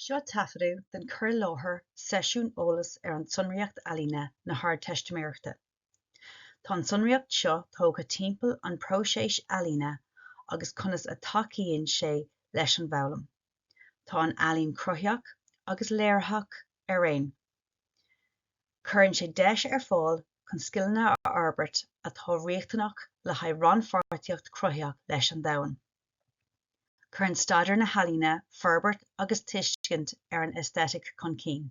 Seo taifeadadh den chur i láthair seisiún eolais ar an tSonraíocht Ealaíne na hArdteistiméireachta. Tá an tsonraíocht seo tógtha timpeall an próiseas ealaíne agus conas a dtacaíonn sé leis an bhfoghlaim. Tá an ealaín cruthaitheach agus léiritheach araon. Cuireann sé deis ar fáil chun scileanna a fhorbairt atá riachtanach le haghaidh rannpháirtíocht chruthaitheach leis an domhan. Cuireann staidéar na healaíne forbairt agus tuiscint ar an aesthetic chun cinn.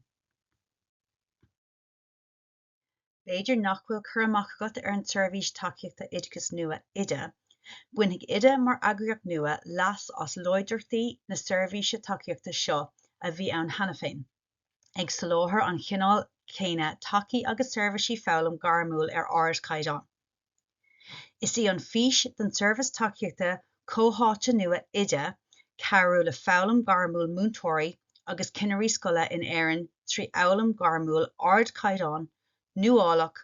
B'fhéidir nach bhfuil cur amach agat ar an tSeirbhís Tacaíochta Oideachais nua, Oide. Bainfidh Oide, mar eagraíocht nua, leas as láidreachtaí na seirbhíse tacaíochta seo a bhí ann cheana féin, ag soláthar an chineáil chéanna tacaí agus seirbhísí foghlaim ghairmiúil ar ardchaighdeán. Is í an fhís don tseirbhís tacaíochta chomhtháite nua Oide cabhrú le foghlaim ghairmiúil múinteoirí agus ceannairí scoile in Éirinn trí fhoghlaim ghairmiúil ardchaighdeáin, nuálach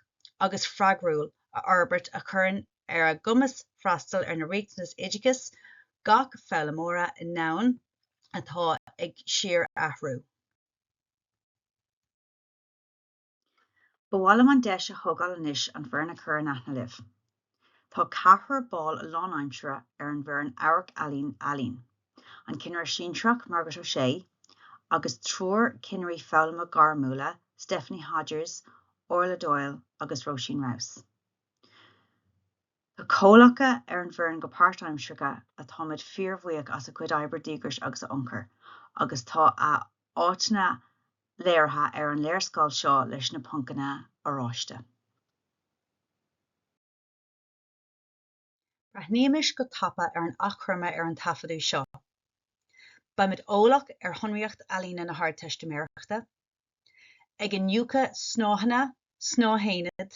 agus freagrúil a fhorbairt a chuireann ar a gcumas freastal ar na riachtanais oideachais gach foghlaimeora i ndomhan atá ag síorathrú. Ba mhaith liom an deis a thógáil anois an foireann a chur in aithne libh. Tá ceathrar ball lánaimsire ar an bhfoireann Amharc-ealaín, an ceannaire sinsearach Margaret O'Shea agus triúr ceannairí foghlama gairmiúla, Stephanie Hodgers, Orla Doyle agus Róisín Rouse. Tá comhlacha ar an bhfoireann go páirtaimseartha atáimid fíorbhuíoch as a gcuid oibre díograise agus a ionchur, agus tá a áiteanna léirithe ar an léarscáil seo leis na poncanna oráiste. Breathnaímis go tapa ar an achoimre ar an taifeadadh seo. Beimid eolach ar shonraíocht ealaíne na hArdteistiméireachta, ag iniúchadh snáitheanna, snáithaonaid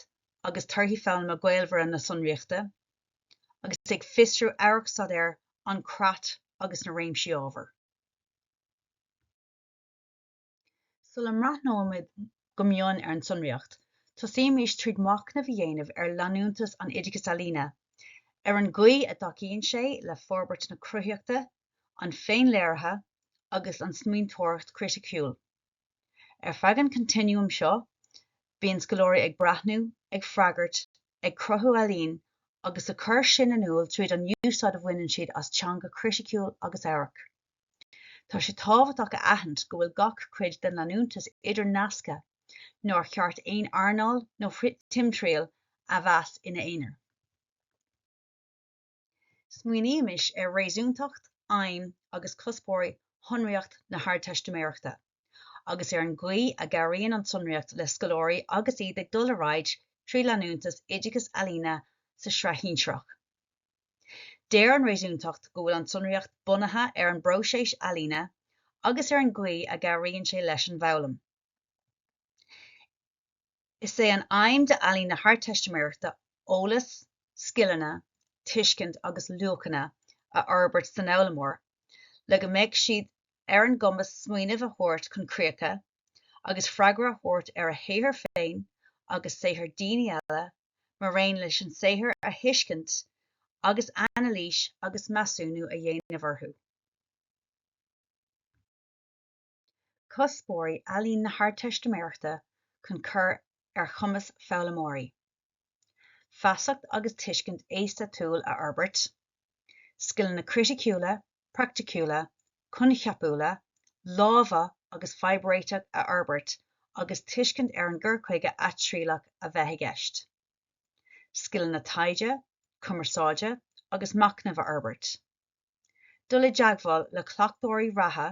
agus torthaí foghlama gaolmhara na sonraíochta, agus ag fiosrú amharcstaidéar an creat agus na réimsí ábhair. Sula mbreathnóimid go mion ar an tsonraíocht, tosaímis tríd machnamh a dhéanamh ar leanúntas an Oideachais Ealaíne, ar an gcaoi a dtacaíonn sé le forbairt na cruthaitheachta, an féinléirithe agus an smaointeoireacht chriticiúil. Ar feadh an continuum seo, bíonn scoláirí ag breathnú, ag freagairt, ag cruthú ealaín agus a chur sin in iúl tríd an úsáid a bhaineann siad as teanga chriticiúil agus amhairc. Tá sé tábhachtach a aithint go bhfuil gach cuid den leanúntas idirnasctha, nár cheart aon earnáil nó timthriall a mheas ina aonar. Smaoinímis ar réasúntacht, aidhm agus cuspóirí shonraíocht na hArdteistiméireachta, agus ar an gcaoi a gcabhraíonn an tsonraíocht le scoláirí agus iad ag dul ar aghaidh trí leanúntas oideachas ealaíne sa sraith shinsearach. Deir an réasúntacht go bhfuil an tsonraíocht bunaithe ar an bpróiseas ealaíne agus ar an gcaoi a gcabhraíonn sé leis an bhfoghlaim. Is é an aidhm d'Ealaín na hArdteistiméireachta eolas, scileanna, tuiscint agus luachanna a fhorbairt san fhoghlaimeoir le go mbeidh siad ar an gcumas smaoineamh a thabhairt chun críocha agus freagra a thabhairt ar a shaothar féin agus saothar daoine eile mar aon leis an saothar a thuiscint agus anailís agus measúnú a dhéanamh orthu. cuspóirí Ealaín na hArdteistiméireachta chun cur ar chumas foghlaimeoirí feasacht agus tuiscint aeistéitiúil a fhorbairt, scileanna criticiúla, praiticiúla, coincheapúla, láimhe agus fadhbréiteach a fhorbairt agus tuiscint ar an gcur chuige atriallach a bheith i gceist, scileanna taighde, cumarsáide agus machnaimh a fhorbairt. dul i dteagmháil le cleachtóirí reatha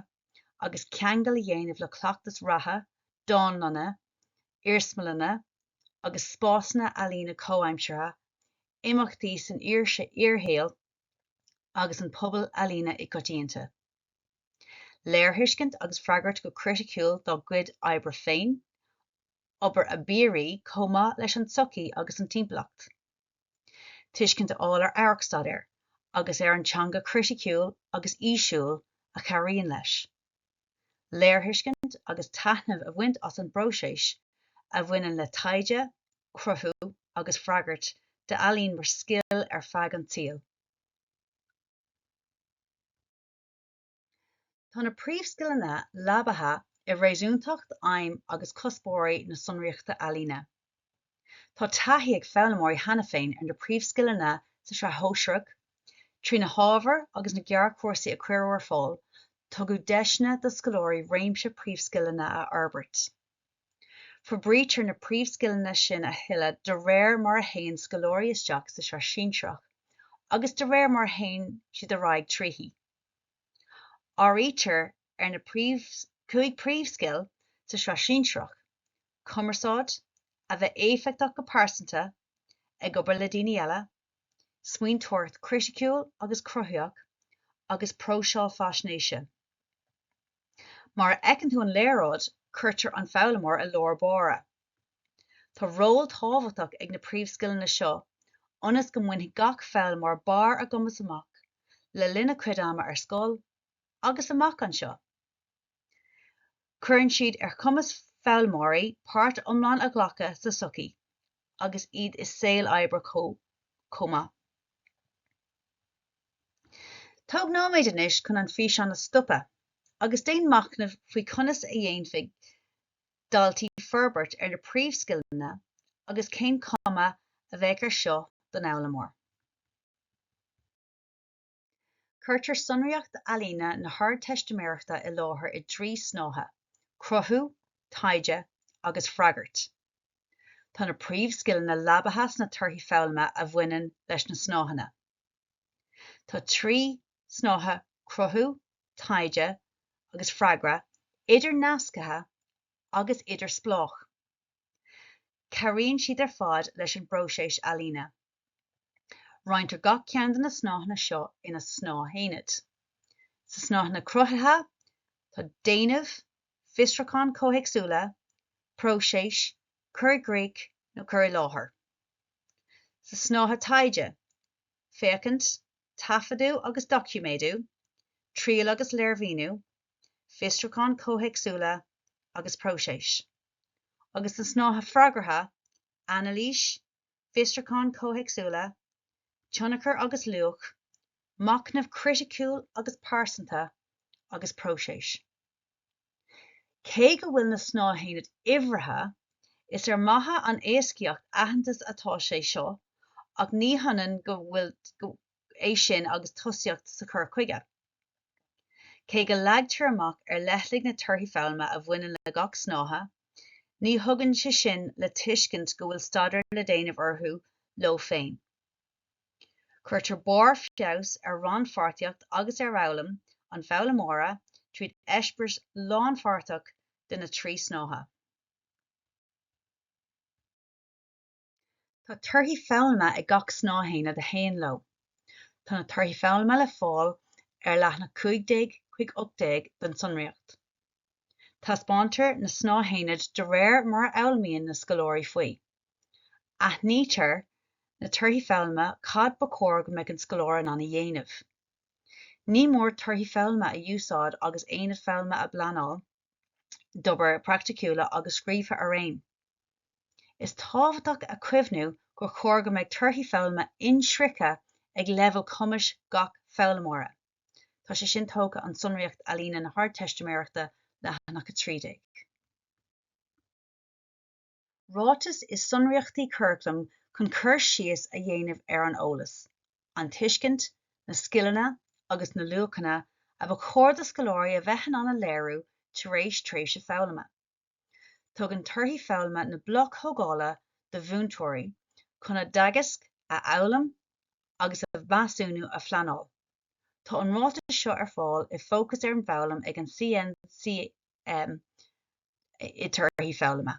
agus ceangal a dhéanamh le cleachtas reatha, dánlanna, iarsmalanna agus spásanna ealaíne comhaimseartha, imeachtaí san fhíorshaol agus an pobal ealaíne i gcoitianta. Léirthuiscint agus freagairt go criticiúil dá gcuid oibre féin, obair a bpiaraí chomh maith leis an tsochaí agus an timpeallacht. tuiscint a fháil ar amharcstaidéar agus ar an teanga chriticiúil agus fhísiúil a chabhraíonn leis léirthuiscint agus taitneamh a bhaint as an bpróiseas a bhaineann le taighde, cruthú agus freagairt d'ealaín mar scil ar feadh an tsaoil. Tá na príomhscileanna leabaithe i réasúntacht, aidhm agus cuspóirí na sonraíochta ealaíne. Tá taithí ag foghlaimeoirí cheana féin ar na príomhscileanna sa Sraith Shóisearach. Trí na hábhair agus na gearrchúrsaí a cuireadh ar fáil, tugadh deiseanna do scoláirí réimse príomhscileanna a fhorbairt. Forbraítear na príomhscileanna sin a thuilleadh de réir mar a théann scoláirí isteach sa Sraith Shinsearach agus de réir mar a théann siad ar aghaidh tríthi. Áirítear ar na cúig príomhscil sa sraith shinsearach, cumarsáid, a bheith éifeachtach go pearsanta, ag obair le daoine eile, smaointeoireacht chriticiúil agus cruthaitheach, agus próiseáil faisnéise. Mar a fheiceann tú an léaráid, cuirtear an foghlaimeoir i lár báire. Tá ról tábhachtach ag na príomhscileanna seo ionas go mbainfidh gach foghlaimeoir barr a gcumais amach le linn a chuid ama ar scoil agus amach anseo. Cuireann siad ar chumas foghlaimeoirí páirt iomlán a ghlacadh sa tsochaí agus iad i saol oibre chomh maith. Tóg nóiméad anois chun an físeán a stopadh agus déan machnamh faoi conas a dhéanfaidh daltaí forbairt ar na príomhscileanna agus cén chuma a bheadh ar seo don fhoghlaimeoir. Cuirtear sonraíocht ealaíne na hArdteistiméireachta i láthair i dtrí shnáithe, cruthú, taighde agus freagairt. Tá na príomhscileanna leabaithe sna torthaí foghlama a bhaineann leis na snáitheanna. Tá trí shnáithe cruthú, taighde agus freagra idir-nasctha agus idirspleách. Cabhraíonn siad ar fad leis an bpróiseas ealaíne. Roinntear gach ceann de na snáitheanna seo ina snáthaonaid. Sa snáitheanna cruthaithe tá déanamh, fiosrúcháin chomhthéacsúla, próiseas, cur i gcrích nó cur i láthair. sa snáithe taighde, féachaint, taifeadú agus doiciméadú, triail agus léirmhíniú, fiosrúcháin chomhthéacsúla agus próiseas, agus sa snáithe freagartha, anailís, fiosrúcháin chomhthéacsúla, tionchar agus luach, machnamh criticiúil agus pearsanta, agus próiseas. Cé go bhfuil na snáthaonaid uimhrithe, is ar mhaithe le héascaíocht aitheantas atá sé seo ach ní hionann go bhfuil é sin agus tosaíocht sa chur chuige. Cé go leagtar amach ar leithligh na torthaí foghlama a bhaineann le gach snáithe, ní thugann sé sin le tuiscint go bhfuil staidéar le déanamh orthu leo féin. Cuirtear barr feabhas ar rannpháirtíocht agus ar fhoghlaim an foghlaimeora tríd eispéireas lánpháirteach de na trí snáithe. Tá torthaí foghlama ag gach snáthaonad a théann leo. Tá na torthaí foghlama le fáil ar leathanach 15 chuig 18 den tsonraíocht. Taispeántar na snáthaonaid de réir mar a fhoghlaimíonn na scoláirí faoi. Aithnítear na torthaí foghlama cad ba chóir go mbeadh an scoláire in ann a dhéanamh. Ní mór torthaí foghlama a úsáid agus aonaid foghlama á bpleanáil d'obair praiticiúla agus scríofa araon. Is tábhachtach a chuimhniú gur chóir go mbeadh torthaí foghlama inshroicthe ag leibhéal cumais gach foghlaimeora. Tá sé sin tógtha ón tSonraíocht Ealaíne na hArdteistiméireachta, leathanach 13. ráiteas i sonraíochtaí curaclaim chun cur síos a dhéanamh ar an eolas, an tuiscint, na scileanna agus na luachanna a ba chóir do scoláirí a bheith in ann a léiriú tar éis tréimhse foghlama. Tugann torthaí foghlama na bloc thógála do mhúinteoirí chun a dteagasc a fhoghlaim agus a mheasúnú a phleanáil. Tá an ráiteas seo ar fáil i Fócas ar an bhFoghlaim ag an CNCM. um, i torthaí foghlama.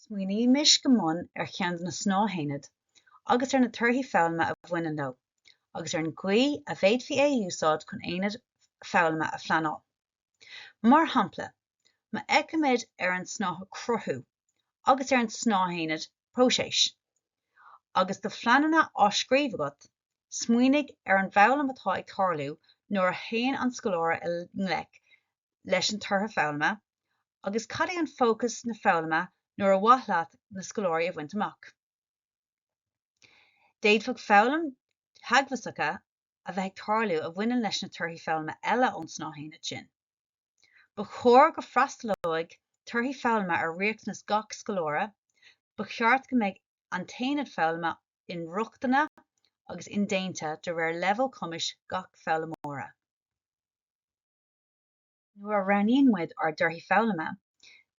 Smaoinímis go mion ar cheann de na snáthaonaid agus ar na torthaí foghlama a bhaineann leo, agus ar an gcaoi a bhféadfaí é a úsáid chun aonad foghlama a phleanáil. Mar shampla, má fheicimid ar an snáithe 'Cruthú' agus ar an snáthaonad próiseas. Agus do phleananna á scríobh agat, smaoinigh ar an bhfoghlaim atá ag tarlú nuair a théann an scoláire i ngleic leis an tortha foghlama agus cad é an fócas na foghlama nua ar mhaith leat na scoláirí a bhaint amach. D'fhéadfadh foghlaim theagmhasacha a bheith ag tarlú a bhaineann leis na torthaí foghlama eile ón snáithaonad sin. Ba chóir go bhfreastalóidh torthaí foghlama ar riachtanas gach scoláire, ba cheart go mbeidh an t-aonad foghlama inrochtana agus indéanta de réir leibhéal cumais gach foghlaimeora. Nuair a roghnaíonn muid ár dtorthaí foghlama,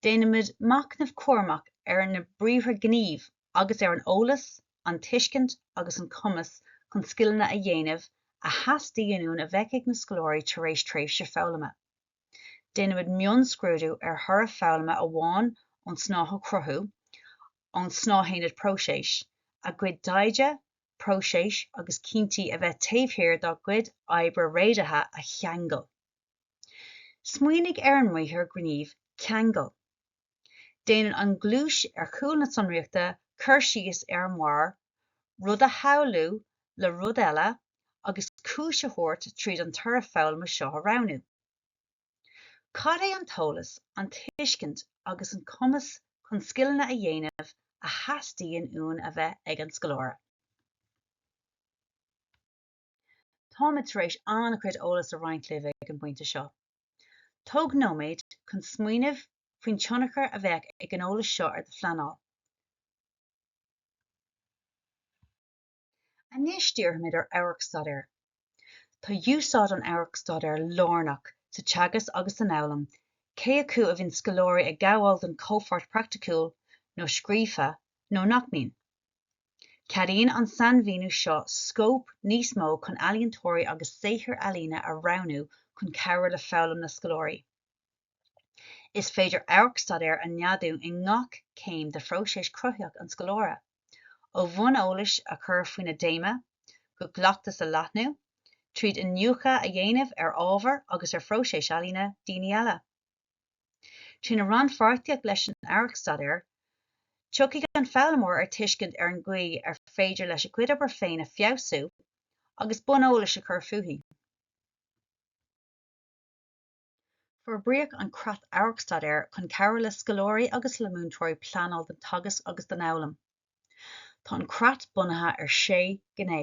déanaimid machnamh cúramach ar na briathra gnímh agus ar an eolas, an tuiscint agus an cumas chun scileanna a dhéanamh a theastaíonn uainn a bheith ag na scoláirí tar éis tréimhse foghlama. Déanaimid mionscrúdú ar thoradh foghlama amháin ón snáithe Cruthú ón snáithaonad Próiseas, a gcuid taighde, próisis agus cinntí a bhí taobh thiar dá gcuid oibre réadaithe a cheangal. Smaoinigh ar an mbriathar gníomh 'ceangal'. Déanann an ghluais ar chúl na sonraíochta cur síos air mar rud a shamhlú le rud eile agus cúis a thabhairt tríd an toradh foghlama seo a roghnú. Cad é an t-eolas, an tuiscint agus an cumas chun scileanna a dhéanamh a theastaíonn uainn a bheith ag an scoláire? Táimid tar éis an-chuid eolas a roinnt libh ag an bpointe seo. Tóg nóiméad chun smaoineamh faoin tionchar a bheadh ag an eolas seo ar do phleanáil. Anois díreoimid ar amharcstaidéar. Tá úsáid an amharcstaidéir lárnach sa teagasc agus san fhoghlaim, cé acu a bhíonn scoláirí ag gabháil don chomhpháirt praiticiúil nó scríofa nó nach mbíonn. Ceadaíonn an sainmhíniú seo scóip níos mó chun ealaíontóirí agus saothair ealaíne a roghnú chun cabhrú le foghlaim na scoláirí. Is féidir amharc-staidéar a neadú i ngach céim de phróiseas cruthaitheach an scoláire, ó bhonn eolais a chur faoina dtéama go gcleachtas a leathnú, tríd iniúchadh a dhéanamh ar ábhair agus ar phróiseas ealaíne daoine eile. Trína rannpháirtíocht leis an Amharc-Staidéar, tiocfaidh an foghlaimeoir ar tuiscint ar an gcaoi ar féidir leis a gcuid obair féin a feabhsú agus bonn eolais a chur fúithi. Forbraíodh an Creat Amharc-Staidéir chun cabhrú le scoláirí agus le múinteoirí pleanáil don teagasc agus don fhoghlaim. Tá an creat bunaithe ar shé ghné.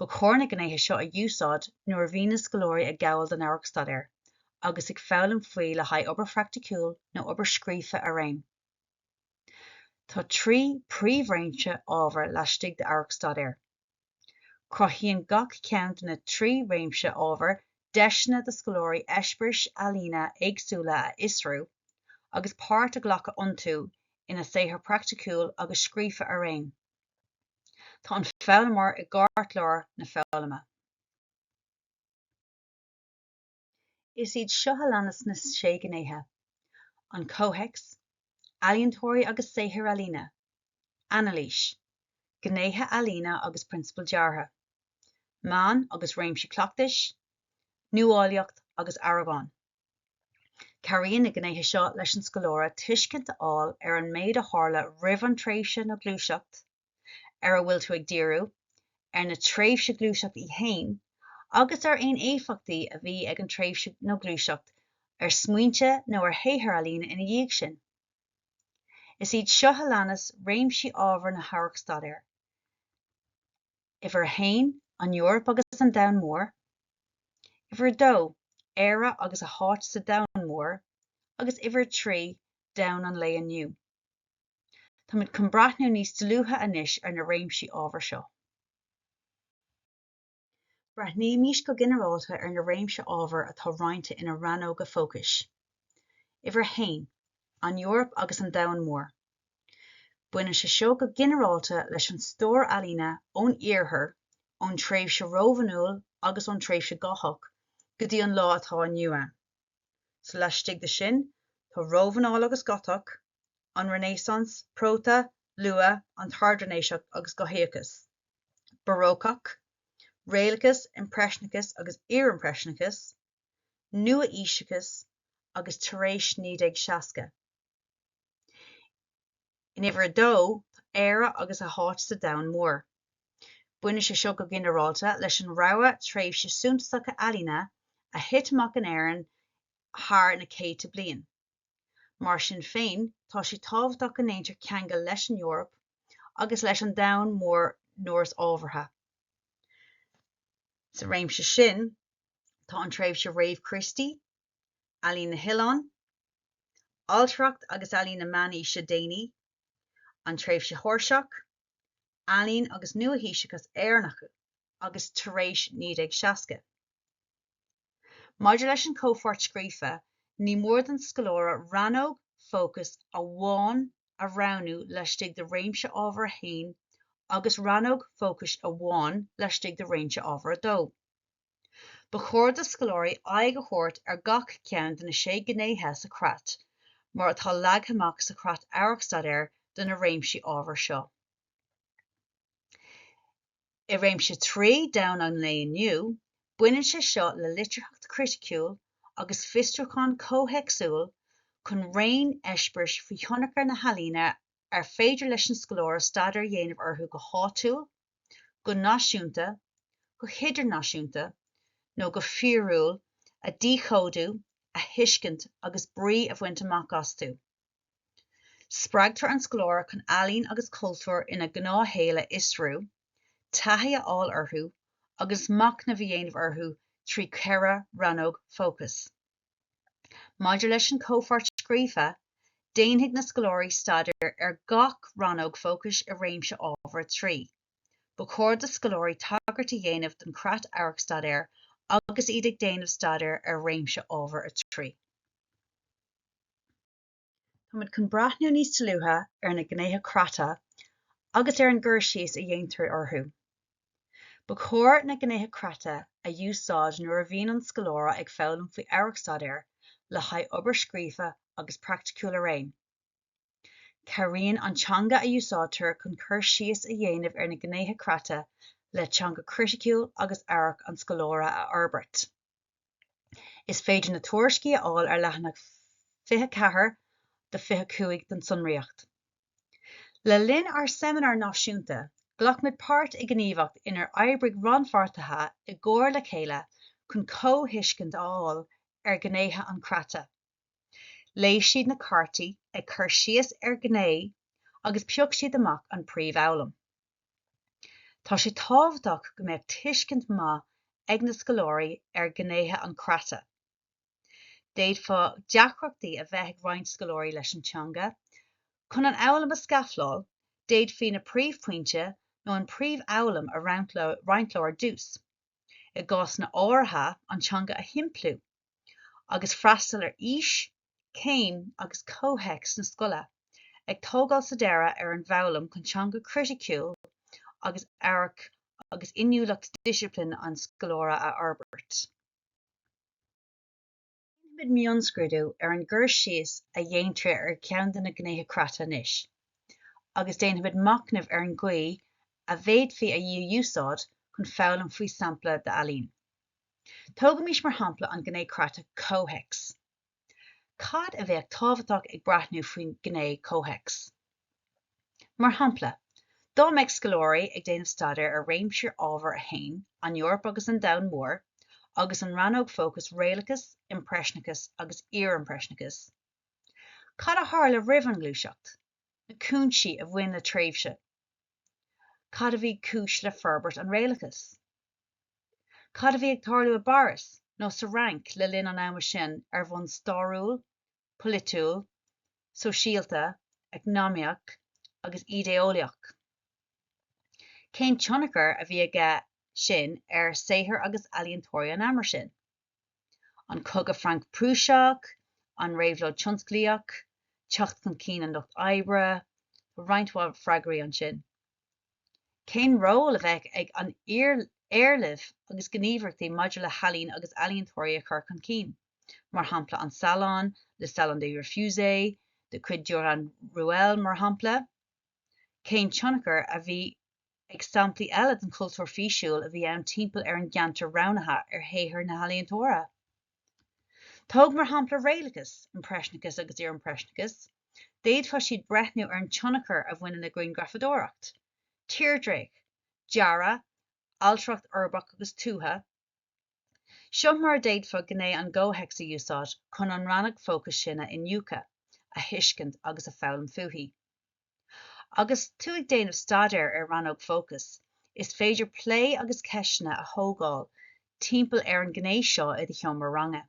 Ba chóir na gnéithe seo a úsáid nuair a bhíonn na scoláirí ag gabháil don amharc-staidéar agus ag foghlaim faoi le haghaidh obair phraiticiúil nó obair scríofa araon. Tá trí príomhréimse ábhar laistigh d'amharc-staidéar. Cruthaíonn gach ceann de na trí réimse ábhair deiseanna do scoláirí eispéiris ealaíne éagsúla a fhiosrú agus páirt a ghlacadh iontu ina saothar praiticiúil agus scríofa araon. Tá an foghlaimeoir i gceartlár na foghlama. Is iad seo a leanas na sé gnéithe, an comhthéacs, ealaíontóirí agus saothair ealaíne, anailís, gnéithe ealaíne agus prionsabail deartha, meáin agus réimsí cleachtais, nuálaíocht agus aireagán. Cabhraíonn na gnéithe seo leis an scoláire tuiscint a fháil ar an méid a tharla roimh an tréimhse nó gluaiseacht, ar a bhfuil tú ag díriú, ar an tréimhse gluaiseacht í féin agus ar aon éifeachtaí a bhí ag an tréimhse nó gluaiseacht ar smaointe nó ar shaothar ealaíne ina dhiaidh sin. Is iad seo a leanas réimsí ábhar na hamharc-staidéar, Uimhir a haon, An Eoraip agus an Domhan Mór, Uimhir a dó, Éire agus a háit sa Domhan Mór agus Uimhir a trí, Domhan an Lae Inniu. Táimid chun breathnú níos dlúithe anois ar na réimsí ábhair seo. Breathnaímís go ginearálta ar na réimse ábhair atá roinnte ina rannóga fócais. Uimhir a haon, An Eoraip agus an Domhan Mór. Baineann sé seo go ginearálta leis an stór ealaíne ón Iarthar, ón tréimhse Rómhanúil agus ón tréimhse Gotach go dtí an lá atá inniu ann. Sa laistigh de sin, tá Rómhanáil agus Gotach, an Renaissance: Próta, Luath, an tArd-Renaissance agus Gothaíochas, Barócach, Réalachas, Impreisneachas agus Iarimpreisneachas, Nua-aoiseachas agus tar éis 1960. In uimhir a dó tá Éire agus a háit sa domhan mór. Baineann sé seo go ginearálta le rogha tréimhse suntasacha ealaíne a thit amach in Éirinn thar na céadta bliain. Mar sin féin, tá sé tábhachtach go ndéantar ceangal leis an Eoraip agus leis an domhan mór nuair is ábhartha. Sa réimse sin, tá an tréimhse réamh-Chríostaí, Ealaín na nOileán, Ailtireacht agus Ealaín na Meánaoise Déanaí, an tréimhse Sheoirseach, Ealaín agus Nua-aoiseachas Éireannach agus tar éis 1960. Maidir leis an chomhpháirt scríofa, ní mór don scoláire rannóg fócais amháin a roghnú laistigh de réimse ábhair 1 agus rannóg fócais amháin laistigh de réimse ábhair 2. Ba chóir do scoláirí aghaidh a thabhairt ar gach ceann de na sé gnéithe sa chreat mar atá leagtha amach sa Chreat Amharc-Staidéir do na réimsí ábhair seo. I réimse 3 domhan an lae inniu, baineann sé seo le litearthacht chriticiúil agus fiosrúchán comhthéacsúil chun raon eispéiris faoi thionchar na healaíne ar féidir leis an scoláire staidéar a dhéanamh orthu go háitiúil, go náisiúnta, go hidirnáisiúnta nó go fíorúil a dhíchódú, a thuiscint agus brí a bhaint amach astu. Spreagtar an scoláire chun ealaín agus cultúr ina ngnáthshaol a fhiosrú, taithí a fháil orthu agus machnamh a dhéanamh orthu trí cheithre rannóg fócais. Maidir leis an chomhpháirt scríofa, déanfaidh na scoláirí staidéar ar gach rannóg fócais i réimse ábhair 3. Ba chóir do scoláirí tagairt a dhéanamh don Chreat Amharc-Staidéir agus iad ag déanamh staidéir ar réimse ábhair 3. Táimid chun breathnú níos dlúithe ar na gnéithe creata agus ar an gcur síos a dhéantar orthu. Ba chóir na gnéithe creata a úsáid nuair a bhíonn an scoláire ag foghlaim faoi Amharc-Staidéir le haghaidh obair scríofa agus praiticiúil araon. Cabhraíonn an teanga a úsáidtear chun cur síos a dhéanamh ar na gnéithe creata le teanga chriticiúil agus amharc an scoláire a fhorbairt. Is féidir na tuairiscí a fháil ar leathanach 24 go 25 den tsonraíocht. Le linn ár seimineár náisiúnta, ghlac muid páirt i ngníomhacht inar oibrigh rannpháirtithe i gcomhar le chéile chun comhthuiscint a fháil ar ghnéithe an chreata. Léigh siad na cártaí ag cur síos ar ghné agus phioc siad amach an príomhfhoghlaim. Tá sé tábhachtach go mbeadh tuiscint mhaith ag na scoláirí ar ghnéithe an chreata. D'fhéadfá deacrachtaí a bheith ag roinnt scoláirí leis an teanga. Chun an fhoghlaim a scafláil, d'fhéadfaí na príomhphointí nó an príomhfhoghlaim a roinnt leo ar dtús, i gcásanna áirithe an teanga a shimpliú, agus freastal ar aois céim agus comhthéacs na scoile, ag tógáil sa deireadh ar an bhfoghlaim chun teanga chriticiúil agus amhairc agus inniúlacht disciplin an scoláire a fhorbairt. Déanfaimid mionscrúdú ar an gcur síos a dhéantar ar cheann de na gnéithe creata anois, agus déanfaimid machnamh ar an gcaoi a bhféadfaí í a úsáid chun foghlaim faoi sampla d'ealaín. Tógaimis mar shampla an gné creata 'comhthéacs' Cad a bheadh tábhachtach ag breathnú faoin ngné comhthéacs? Mar shampla, dá mbeadh scoláirí ag déanamh staidéir ar réimse ábhar 1, An Eoraip agus an Domhan Mór, agus an rannóg fócais Réalachas, Impreisneachas agus Iar-Impreisneachas, cad a tharla roimh an ngluaiseacht, na cúinsí a bhain le tréimhse, cad a bhí mar chúis le forbairt an Réalachais? Cad a bhí ag tarlú i bPáras nó sa Fhrainc le linn an ama sin ar bhonn stairiúil, polaitiúil, sóisialta, eacnamaíoch agus idé-eolaíoch? Cén tionchar a bhí aige sin ar saothar agus ealaíontóirí an ama sin? An Cogadh Franc-Prúiseach, An Réabhlóid Tionsclaíoch, Teacht chun cinn an lucht oibre? Tá roinnt mhaith freagraí ansin. Cén ról a bheadh ag an éarlamh agus gníomhaireachtaí maidir le healaín agus ealaíontóirí a chur chun cinn, mar shampla an Salon, le Salon des Refusés de chuid Durand-Ruel, mar shampla? Cén tionchar a bhí ag samplaí eile den chultúr físiúil a bhí ann timpeall ar an gceantar roghnaithe ar shaothar na n-ealaíontóirí? Tóg mar shampla réalachas, impreisneachas agus iar-impreisneachas, d'fhéadfadh siad breathnú ar an tionchar a bhaineann le grianghrafadóireacht, tírdhreach, dearadh, ailtireacht uirbeach agus tuaithe. Seo mar a d'fhéadfá gné an chomhthéacs a úsáid chun an rannóg fócais sin a iniúchadh, a thuiscint agus a foghlaim fúithi. Agus tú ag déanamh staidéir ar rannóg fócais, is féidir plé agus ceisteanna a thógáil timpeall ar an ghné seo i do sheomra ranga.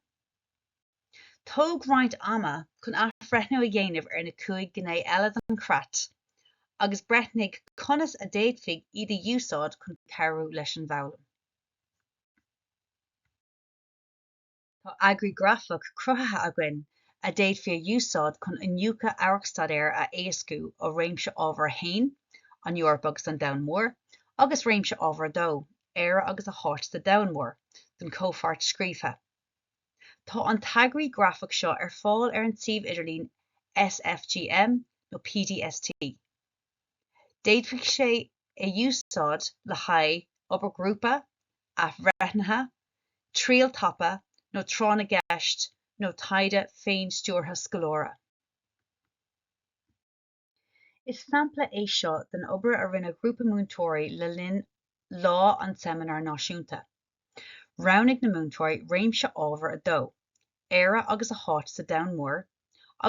Tóg roinnt ama chun athbhreithniú a dhéanamh ar na cúig ghné eile den chreat agus breithnigh conas a d'fhéadfaí iad a úsáid chun cabhrú leis an bhfoghlaim. Tá eagraí grafach cruthaithe againn a d'fhéadfaí a úsáid chun iniúchadh amharcstaidéir a éascú ó réimse ábhair 1, An Eoraip agus an Domhan Mór, agus réimse ábhair 2, Éire agus a háit sa Domhan Mór, don chomhpháirt scríofa. Tá an t-eagraí grafach seo ar fáil ar an tsuíomh idirlín SFGM nó PDST. D'fhéadfadh sé é a úsáid le haghaidh obair ghrúpa, athbhreithnithe, triail thapa nó tráth na gceist nó taighde féinstiúrtha scoláire. Is sampla é seo den obair a rinne grúpa múinteoirí le linn lá an tSeimineáir Náisiúnta. Roghnaigh na múinteoirí réimse ábhair a dó, Éire agus a háit sa domhan mór,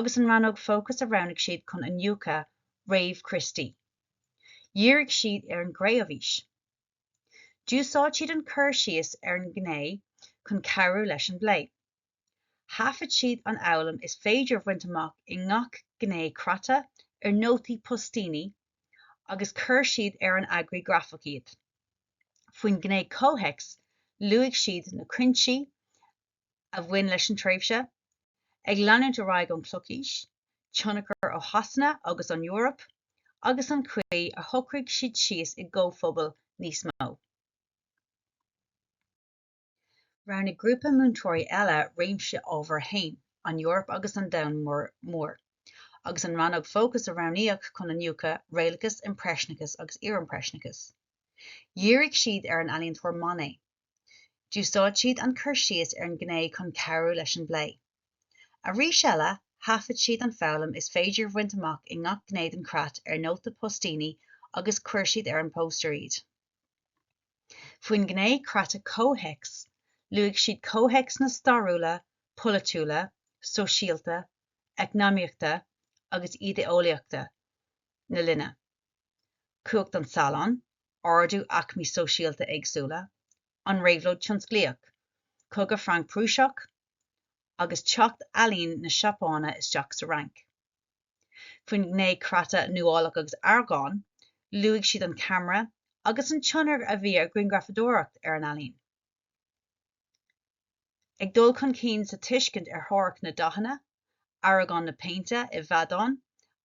agus an rannóg fócais a roghnaigh siad chun iniúchadh Réamh-Chríostaí. Dhírigh siad ar an gCré-umhaois. D'úsáid siad an cur síos ar an ngné chun cabhrú leis an bplé. Thaifead siad an fhoghlaim is féidir a bhaint amach i ngach gné creata ar nótaí poistíní agus chuir siad ar an eagraí grafach iad. Faoin ngné comhthéacs luaigh siad na cuinsí a bhain leis an tréimhse, ag leanúint ar aghaidh ón Chlochaois, tionchar ó Shasana agus ón Eoraip, agus an chaoi ar shocraigh siad síos i gcomhphobail níos mó. Roghnaigh grúpa múinteoirí eile réimse ábhair 1, An Eoraip agus an Domhan Mór, agus an rannóg fócais a roghnaíodh chun iniúchadh, Réalachas, Impreisneachas agus Iarimpreisneachas. Dhírigh siad ar an ealaíontóir Monet. D'úsáid siad an cur síos ar an ghné chun cabhrú leis an bplé. Arís eile, thaifead siad an foghlaim is féidir a bhaint amach i ngach gné den chreat ar nótaí poistíní agus chuir siad ar an bpóstaer iad. Faoin ngné creata comhthéacs, luaigh siad comhthéacsanna stairiúla, polaitiúla, sóisialta, eacnamaíochta agus ídé-eolaíochta na linne, cumhacht an Salon, ardú aicmí sóisialta éagsúla, an Réabhlóid Tionsclaíoch, Cogadh Franc-Prúiseach, agus teacht ealaín na Seapáine isteach sa Fhrainc. faoin ngné creata nuálaíocht agus aireagán, luaigh siad an ceamara agus an tionchar a bhí ar ghrianghrafadóireacht ar an ealaín. An dul chun cinn sa tuiscint ar theoiric na ndathanna, aireagán na péinte i bhfeadán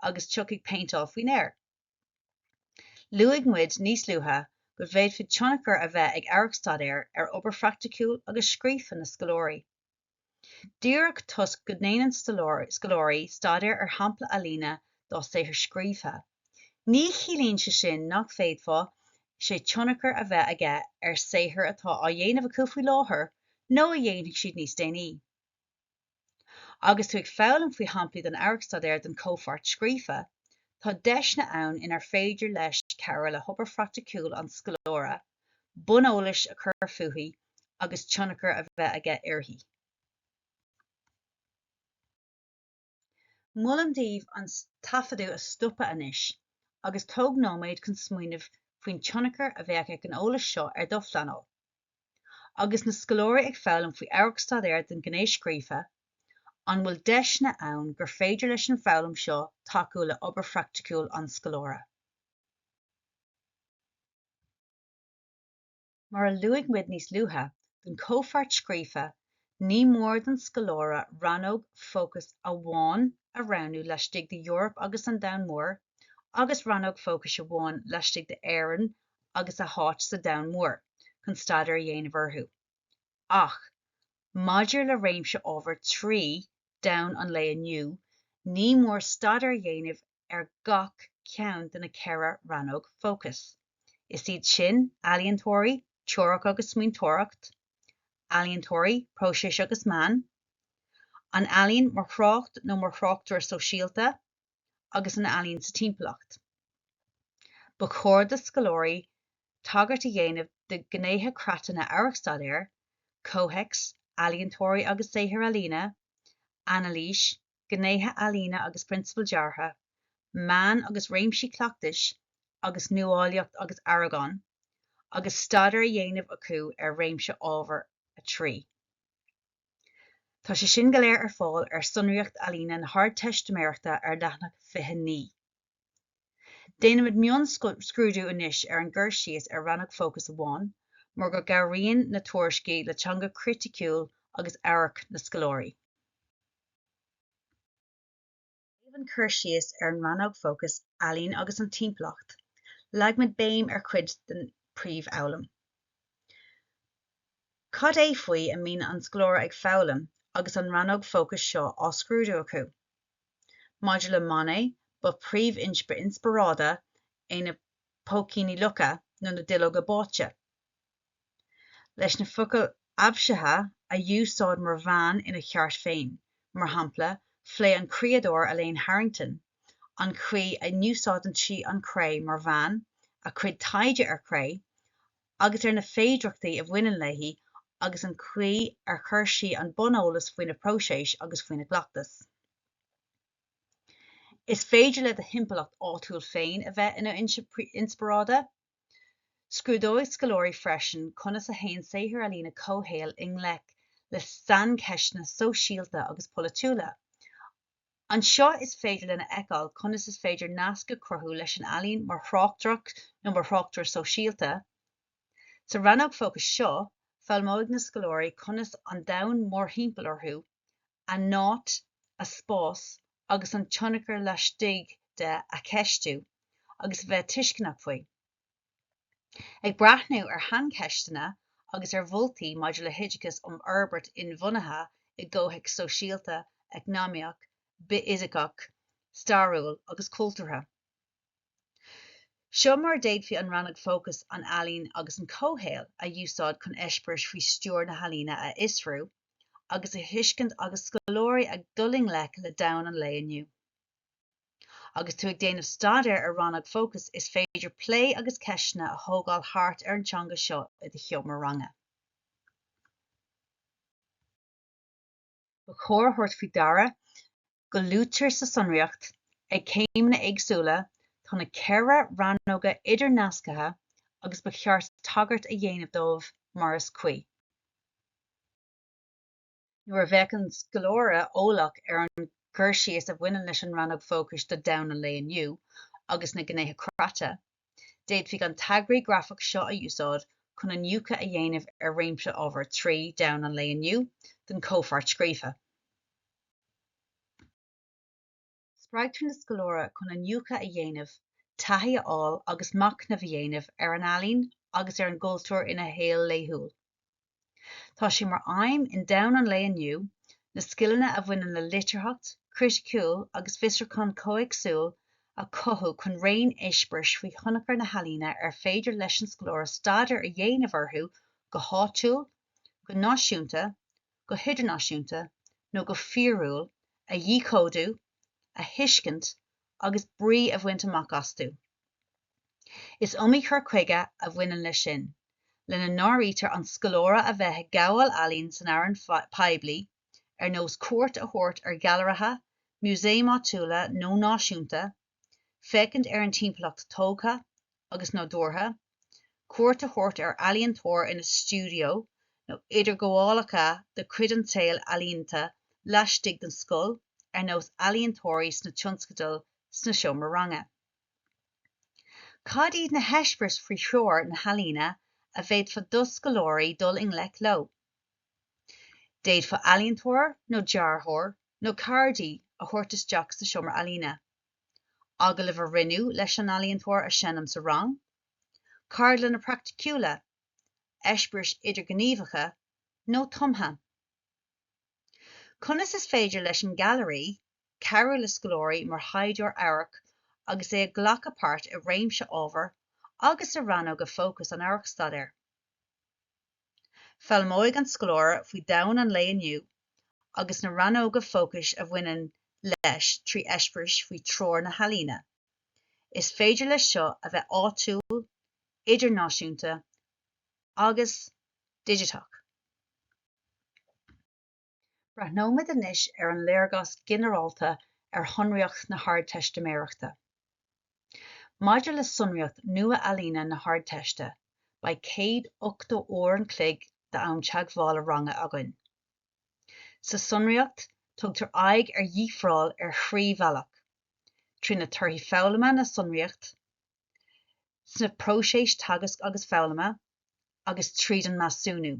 agus teacht péinteáil faoin aer. Luaigh muid níos luaithe go bhféadfadh tionchar a bheith ag amharcstaidéar ar obair phraiticiúil agus scríofa na scoláirí. Díreach toisc go ndéanann scoláirí staidéar ar shampla ealaíne dá saothar scríofa, ní chiallaíonn sé sin nach bhféadfadh sé tionchar a bheith aige ar shaothar atá á dhéanamh acu faoi láthair nó a dhéanfaidh siad níos déanaí. Agus tú ag foghlaim faoi shamplaí den amharcstaidéar don chomhpháirt scríofa, tá deiseanna ann inar féidir leis cabhrú le hobair phraiticiúil an scoláire, buneolais a chur fúithi agus tionchar a bheith aige uirthi. Molaim daoibh an taifeadadh a stopadh anois agus tóg nóiméad chun smaoineamh faoin tionchar a bheadh ag an eolas seo ar do phleanáil. Agus na scoláirí ag foghlaim faoi amharcstaidéar don ghné scríofa, an bhfuil deiseanna ann gur féidir leis an bhfoghlaim seo tacú le obair phraiticiúil an scoláire? Mar a luaigh muid níos luaithe, don chomhpháirt scríofa, ní mór don scoláire rannóg fócais amháin a roghnú laistigh de Eoraip agus an Domhan Mór agus rannóg fócais amháin laistigh d'Éirinn agus a hÁit sa Domhan Mór chun staidéar a dhéanamh orthu. Ach maidir le réimse ábhar trí domhan an lae inniu, ní mór staidéar a dhéanamh ar gach ceann de na ceithre rannóg fócais. Is iad sin, ealaíontóirí, teoiric agus smaointeoireacht, ealaíontóirí, próisis agus meán, an ealaín mar thrácht nó mar thráchtaire sóisialta, agus an ealaín sa timpeallacht. Ba chóir do scoláirí tagairt a dhéanamh do ghnéithe creata na n-amharcstaidéar, comhthéacs, ealaíontóirí agus saothair ealaíne, anailís, gnéithe ealaíne agus prionsabail deartha, meán agus réimsí cleachtais agus nuálaíocht agus aireagán, agus staidéar á dhéanamh acu ar réimse ábhar 3. Tá sé sin go léir ar fáil ar Sonraíocht Ealaíne na hArdteistiméireachta ar leathanach 29. Déanfaimid mionscrúdú anois ar an gcur síos ar rannóg fócais amháin mar go gcabhraíonn na tuairiscí le teanga criticiúil agus amhairc na scoláirí. Taobh an cur síos ar an rannóg fócais Ealaín agus an Timpeallacht, leagfaimid béim ar chuid den phríomhfhoghlaim. Cad é faoi a mbíonn an scoláire ag foghlaim agus an rannóg fócais seo á scrúdú acu? Maidir le Monet, ba phríomhfhoinse inspioráide é na póicíní locha nó na duilleoga báite. Leis na focail aibhsithe a úsáid mar mheán ina cheart féin, mar shampla, phléigh an criadóir Elaine Harrington an chaoi a n-úsáideann sí an chré mar mheán, a cuid taighde ar chré, agus ar na féidireachtaí a bhaineann léi agus an chaoi ar chuir sí an buneolas faoina próiseas agus faoina cleachtas. Is féidir le do thimpeallacht áitiúil féin a bheith ina fhoinse inspioráide. Scrúdóidh scoláirí freisin conas a théann saothair ealaíne comhshaoil i ngleic le saincheisteanna sóisialta agus polaitiúla, Anseo is féidir linn a fheiceáil conas is féidir nasc a chruthú leis an ealaín mar thráchtaireacht nó mar thráchtaire sóisialta. Sa rannóg fócais seo, foghlaimeoidh na scoláirí conas an domhan mórthimpeall orthu, a n-áit, a spás agus a dtionchar laistigh de a cheistiú agus a bheith tuisceanach faoi. Ag breathnú ar shaincheisteanna agus ar mholtaí maidir le hoideachas um fhorbairt inbhuanaithe i gcomhthéacs sóisialta, eacnamaíoch, bithfhisiceach, stairiúil agus cultúrtha, seo mar a d'fhéadfaí an rannóg fócais 'An Ealaín agus an Comhshaol' a úsáid chun eispéiris faoi stiúir na healaíne a fhiosrú agus a thuiscint agus scoláirí ag dul i ngleic le domhan an lae inniu. Agus tú ag déanamh staidéir ar rannóg fócais is féidir plé agus ceisteanna a thógáil thart ar an teanga seo i do sheomra ranga. Ba chóir a thabhairt faoi deara go luaitear sa tsonraíocht, ag céimeanna éagsúla, tá na ceithre rannóga idirnasctha agus ba cheart tagairt a dhéanamh dóibh mar is cuí. nuair a bheadh an scoláire eolach ar an gcur síos a bhaineann leis an rannóg fócais do Domhan an Lae Inniu agus na gnéithe creata, d'fhéadfaí an t-eagraí grafach seo a úsáid chun iniúchadh a dhéanamh ar réimse ábhar trí Domhan an Lae Inniu don chomhpháirt scríofa. Spreagtar an scoláire chun iniúchadh a dhéanamh, taithí a fháil agus machnamh a dhéanamh ar an ealaín agus ar an gcultúr ina shaol laethúil. Tá sé mar aidhm in Domhan an Lae Inniu na scileanna a bhaineann le litearthacht chriticiúil agus fiosrúchán comhthéacsúil a chothú chun raon eispéiris faoi thionchar na healaíne ar féidir leis an scoláire staidéar a dhéanamh orthu go háitiúil, go náisiúnta, go. go hidirnáisiúnta nó go fíorúil a dhíchódú, a thuiscint agus brí a bhaint amach astu. Is iomaí cur chuige a bhaineann leis sin, lena n-áirítear an scoláire a bheith ag gabháil ealaíon san fhearann poiblí, ar nós cuairt a thabhairt ar ghailearaithe, músaeim áitiúla nó náisiúnta, féachaint ar an timpeallacht tógtha agus nádúrtha, cuairt a thabhairt ar ealaíontóir ina stiúideo nó idirghabhálacha de chuid an tsaoil ealaíonta laistigh den scoil ar nós ealaíontóirí sna tionscadail sa seomra ranga. Cad iad na heispéiris faoi threoir na healaíne a bhféadfadh do scoláirí dul i ngleic leo? D'fhéadfá ealaíontóir nó dearthóir nó ceardaí a thabhairt isteach sa seomra ealaíne, agallamh a rinneadh leis an ealaíontóir a sheinm sa rang, ceardlanna praiticiúla, eispéiris idirghníomhacha nó tumtha. Conas is féidir leis an Gailearaí cabhrú le scoláirí mar thaighdeoirí amhairc agus iad ag glacadh páirt i réimse ábhar agus i rannóga fócais an amharcstaidéir? Foghlaimeoidh an scoláire faoi domhan an lae inniu agus na rannóga fócais a bhaineann leis trí eispéiris faoi threoir na healaíne. Is féidir leis seo a bheith áitiúil, idirnáisiúnta agus digiteach. Breathnóimid anois ar an léargas ginearálta ar shonraíocht na hArdteistiméireachta. Maidir le sonraíocht Nua-Ealaíne na hArdteiste, beidh 180 uair an chloig d'am teagmhála ranga againn. Sa tsonraíocht, tugtar aghaidh ar dhifreáil ar thrí bhealach, trí thorthaí foghlama na sonraíochta, sna próiséis teagasc agus foghlama, agus tríd an measúnú.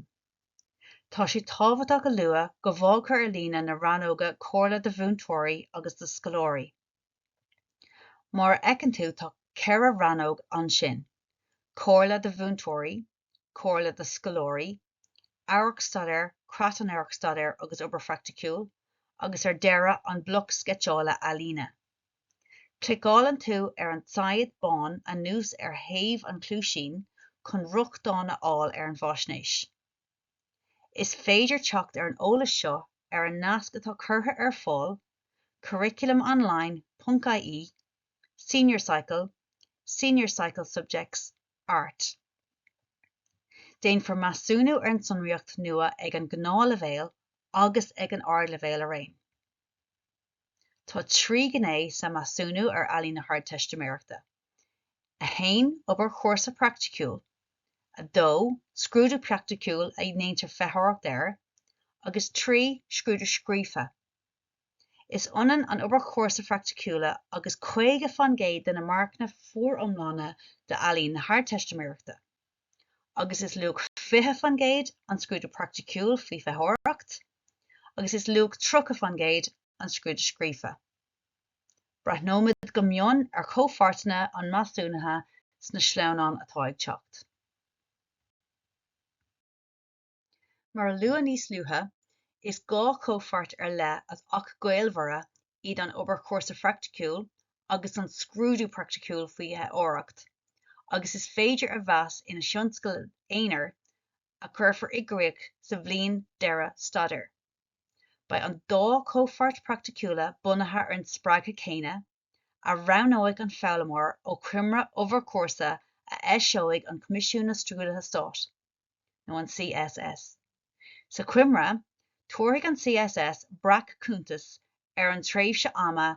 Tá sé tábhachtach a lua go bhfaightear ar líne na rannóga 'Comhairle do Mhúinteoirí' agus 'Do Scoláirí'. Mar a fheiceann tú tá ceithre rannóg ansin, 'Comhairle do Mhúinteoirí', 'Comhairle do Scoláirí', 'Amharcstaidéir', 'Creat an Amharcstaidéir' agus 'Obair Phraiticiúil', agus ar deireadh an bloc sceitseála ealaíne. Cliceálann tú ar an tsaighead bán anuas ar thaobh an chluaisín chun rochtain a fháil ar an bhfaisnéis. Is féidir teacht ar an eolas seo ar an nasc atá curtha ar fáil, curriculumonline.ie, Senior Cycle, Senior Cycle Subjects, Art. Déanfar measúnú ar an tsonraíocht nua ag an nGnáthleibhéal agus ag an Ardleibhéal araon. Tá trí ghné sa Mheasúnú ar Ealaín na hArdteistiméireachta, 1 Obair chúrsa praiticiúil, 2 Scrúdú praiticiúil a ndéantar feitheoireacht air, agus 3 Scrúdú scríofa. Is ionann an obair chúrsa phraiticiúla agus caoga faoin gcéad de na marcanna foriomlána d'Ealaín na hArdteistiméireachta. agus is luach 20 faoin gcéad an scrúdú praiticiúil faoi fheitheoireacht, agus is luach 30 faoin gcéad an scrúdú scríofa. Breathnóimid go mion ar chomhpháirteanna an mheasúnaithe sna sleamhnáin atá ag teacht. Mar a luadh níos luaithe, is dhá chomhpháirt ar leith ach gaolmhara iad an obair chúrsa phraiticiúil agus an scrúdú praiticiúil faoi fheitheoireacht, agus is féidir a mheas ina thionscadal aonair a chuirfear i gcríoch sa bhliain deireadh staidéir. Beidh an dá chomhpháirt praiticiúla bunaithe ar an spreagtha chéanna, a roghnóidh an foghlaimeoir ó choimre obair chúrsa a eiseoidh an Coimisiún na Scrúduithe Stáit nó an CSS. Sa choimre, tabharfaidh an CSS breac-chuntas ar an tréimhse ama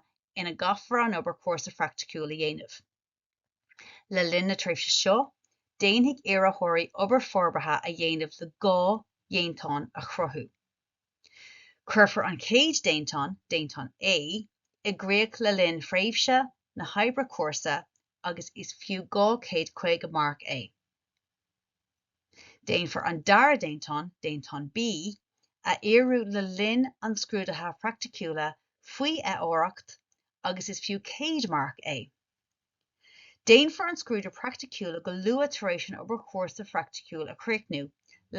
ina gcaithfear an obair chúrsa phraiticiúil a dhéanamh. Le linn na tréimhse seo, déanfaidh iarrthóirí obair forbartha a dhéanamh le dhá dhéantán a chruthú. Cuirfear an chéad déantán, déantán A, i gcríoch le linn thréimhse na hoibre cúrsa agus is fiú 250 marc é. Déanfar an dara déantán, déantán B, a fhíorú le linn an scrúdaithe praiticiúla faoi fheitheoireacht agus is fiú 100 marc é. Déanfar an scrúdú praiticiúla go luath tar éis an obair chúrsa phraiticiúil a chríochnú,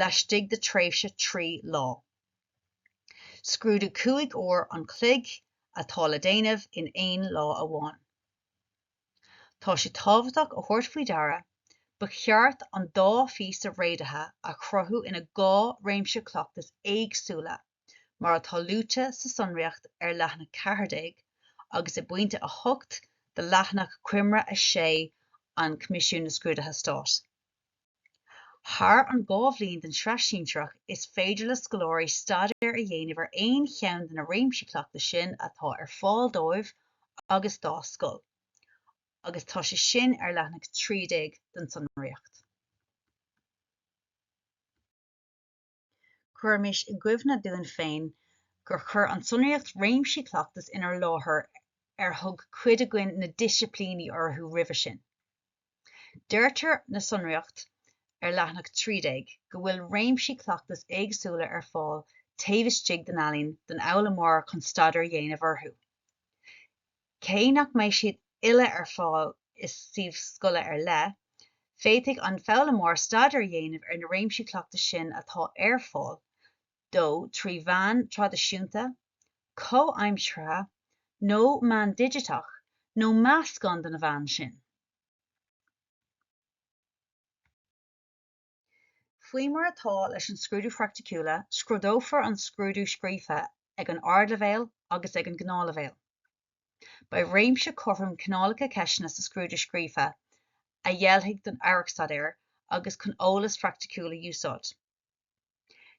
laistigh de tréimhse trí lá. Scrúdú cúig uair an chloig atá le déanamh in aon lá amháin. Tá sé tábhachtach a thabhairt faoi deara, ba cheart an dá phíosa réadaithe a chruthú ina dhá réimse cleachtais éagsúla. mar atá luaite sa tsonraíocht ar leathanach 14 agus i bpointe 8 de leathanach coimre 6 an Choimisiúin na Scrúduithe Stáit. Thar an dhá bhliain den Sraith Shinsearach is féidir le scoláirí staidéar a dhéanamh ar aon cheann de na réimsí cleachtais sin atá ar fáil dóibh agus dá scoil agus tá sé sin ar leathanach 13 den tsonraíocht. Cuirimis i gcuimhne dúinn féin gur chuir an tsonraíocht réimsí cleachtais inár láthair ar thug cuid againn na disciplíní orthu roimhe sin. Deirtear sa sonraíocht ar leathanach 13 go bhfuil réimsí cleachtais éagsúla ar fáil taobh istigh den Ealaín don fhoghlaimeoir chun staidéar a dhéanamh orthu. Cé nach mbeidh siad uile ar fáil i suíomh scoile ar leith, féadfaidh an foghlaimeoir staidéar a dhéanamh ar na réimsí cleachtais sin atá ar fáil dó trí mheán traidisiúnta, comhaimseartha nó meán digiteach, nó meascán de na meáin sin. Faoi mar atá leis an scrúdú phraiticiúla, scrúdófar an scrúdú scríofa ag an ardleibhéal agus ag an ngnáthleibhéal. Beidh réimse cothrom cineálacha ceisteanna sa scrúdú scríofa a oirfidh don Amharc-Staidéar agus chun eolas phraiticiúil a úsáid.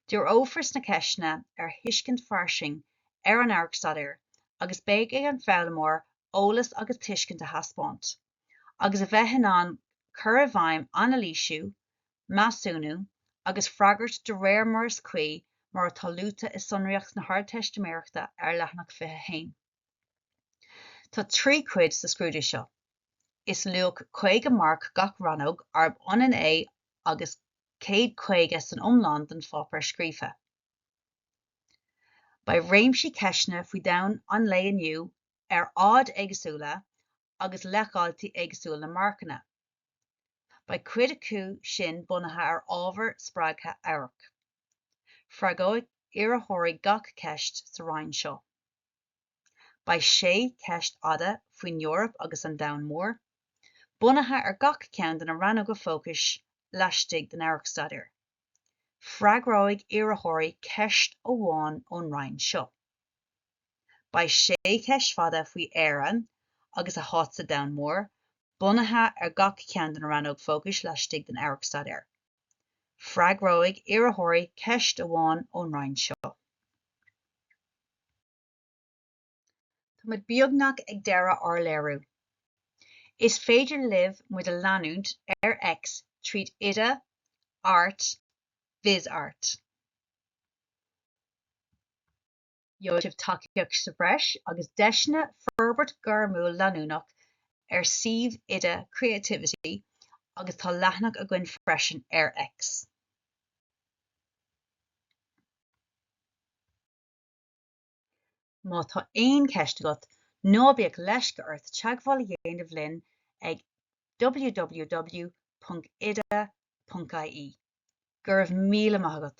Díreofar sna ceisteanna ar thuiscint fairsing ar an Amharc-Staidéar agus beidh ar an bhfoghlaimeoir eolas agus tuiscint a thaispeáint. agus a bheith in ann cur i bhfeidhm anailísiú, measúnú agus freagairt de réir mar is cuí mar atá luaite i sonraíocht na hArdteistiméireachta ar leathanach 21. Tá trí chuid sa scrúdú seo. Is luach 50 marc gach rannóg arb ionann é agus 150 san iomlán don pháipéar scríofa. Beidh réimse ceisteanna faoi domhan an lae inniu ar fhaid éagsúla agus leithdháiltí éagsúla marcanna. Beidh cuid acu sin bunaithe ar ábhar spreagtha amhairc. Freagróidh iarrthóirí gach ceist sa roinn seo. Beidh sé ceist fhada faoin Eoraip agus an Domhan Mór, bunaithe ar gach ceann de na rannóga fócais laistigh den amharc-staidéar. Freagróidh iarrthóirí ceist amháin ón roinn seo. Beidh sé cheist fada faoi Éirinn agus a háit sa domhan mór bunaithe ar gach ceann de na rannóg fócais laistigh den amharc-staidéar. Freagróidh iarrthóirí ceist amháin ón roinn seo. Tá muid beagnach ag deireadh ár léiriú. Is féidir libh muid a leanúint ar X tríd Oide Art Vis Art. Gheobhaidh sibh tacaíocht sa bhreis agus deiseanna forbairt gairmiúil leanúnach ar shuíomh Oide Creativity agus tá leathanach againn freisin ar X. Má tá aon cheist agat, ná bíodh leisce ort teagmháil a dhéanamh linn ag www.oide.ie. Go raibh míle maith agat!